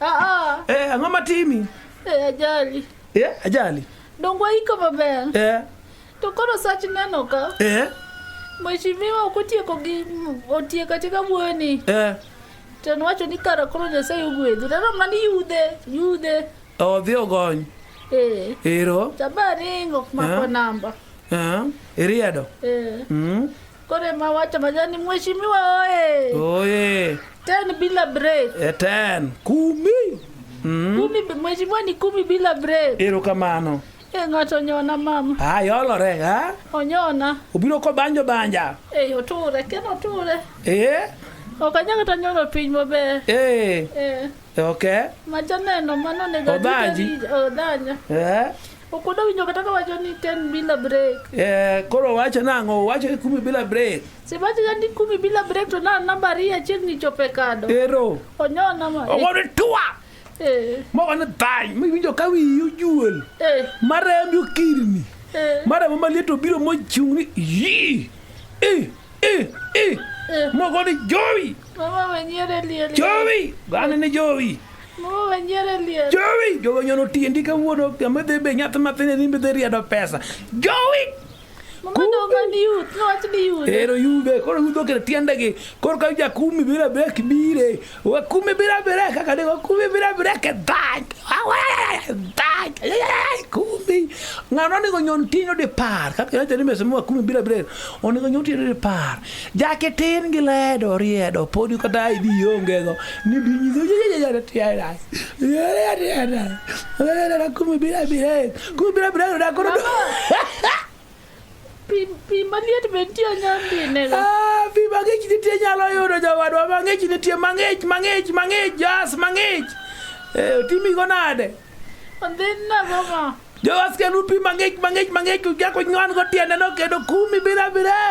Ah ah. Eh, ang'o matimi? Eh, ajali. Eh, ajali. Dongo iko maber. Eh. To koro sach neno ka. Eh. Mheshimiwa okotieko gi otieko atika wuoyo ni. Eh. To nwacho ni kara koro Nyasaye ogwedhi. Neno mana ni yudhe, yudhe. Odhi ogony. Eh. Ero. Tabaringo mako eh. namba. Eh. Iriedo. Eh. Mm. Kore mawacha majani mheshimiwa oye. Oye. Ten bila break. E ten. Kumi. Mm. Kumi mheshimiwa ni kumi bila break. Ero kamano. E eh, ng'ato onyona mama. Ah, yolore ha? Onyona. Obiro ko banjo banja. Eh, oture, ken oture. Eh. Ok anyalo to nyoro piny maber. Eh. Eh. Okay. Majaneno mano nego. Obanji. Odanya. Eh. Okudo winjo kata kawacho ni ten bila break. Eh, koro wacho nang'o? Wacho ni kumi bila break. Sibacho ni kumi bila break to na namba ria chieng' ni chope kado. Ero. Onyo namba. Ogo ni tua. Eh. Mogo ni thany. Mi winjo ka wiyi ojuol. Eh. Marembi okirni. Eh. Marembi maliet obiro mochung' ni yii. Eh. Eh, eh. Moko ni Jowi. Mama wenyere liel. Jowi. Gane ni Jowi. Mama wenyere liel. Jowi. Jowi nyono tiendi kawuono kama dhi be nyath mathine ni dhi riedo pesa. Jowi. Mama donga ni yut, nwach ni yut. Ero yude, koro yudo kere tiendegi. Koro ka jakumi bira bek bire. Wakumi bila biraka kani wakumi bila biraka dag. Dag. Kumi. Ngano ni gonyon tino de par. Kaka yote nime sema wakumi bila biraka. Oni gonyon tino de par. Jake tin gile do riedo. Podi kata idi yonge go. Ni binyi zo ya ya ya ya ya. Ya ya ya ya. Wakumi bila biraka. Kumi bila biraka. Kumi bila biraka. pi maliet be nitie nyandine ah, pi mang'ich nitie nyalo yudo jowadwa mang'ich nitie mang'ich mang'ich mang'ich jas mang'ich eh, otimigo nade ondhinna mama jowaskenu pi mang'ich mang'ich mang'ich jako nywan go tiendeno kendo kumi bila bire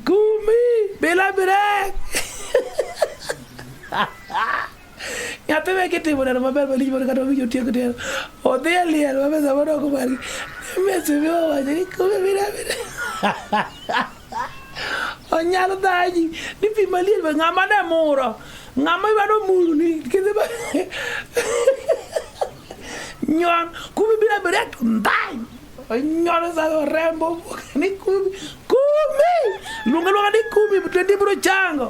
kumi bila bire nyathi me kitimo neno maber malich mondo kata owinjo tiek tieno odhi e liel ma mesa mondo ok margi mesa mi owacho ni kume mira mira onyalo dhaji ni pi maliel be ng'ama ne muro ng'ama idwado muru ni kidhi ba nyon kume bira bira to ndhany onyono sa orembo ni kume kume luonga luonga ni kume to ndi biro chango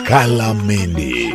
Kalameni.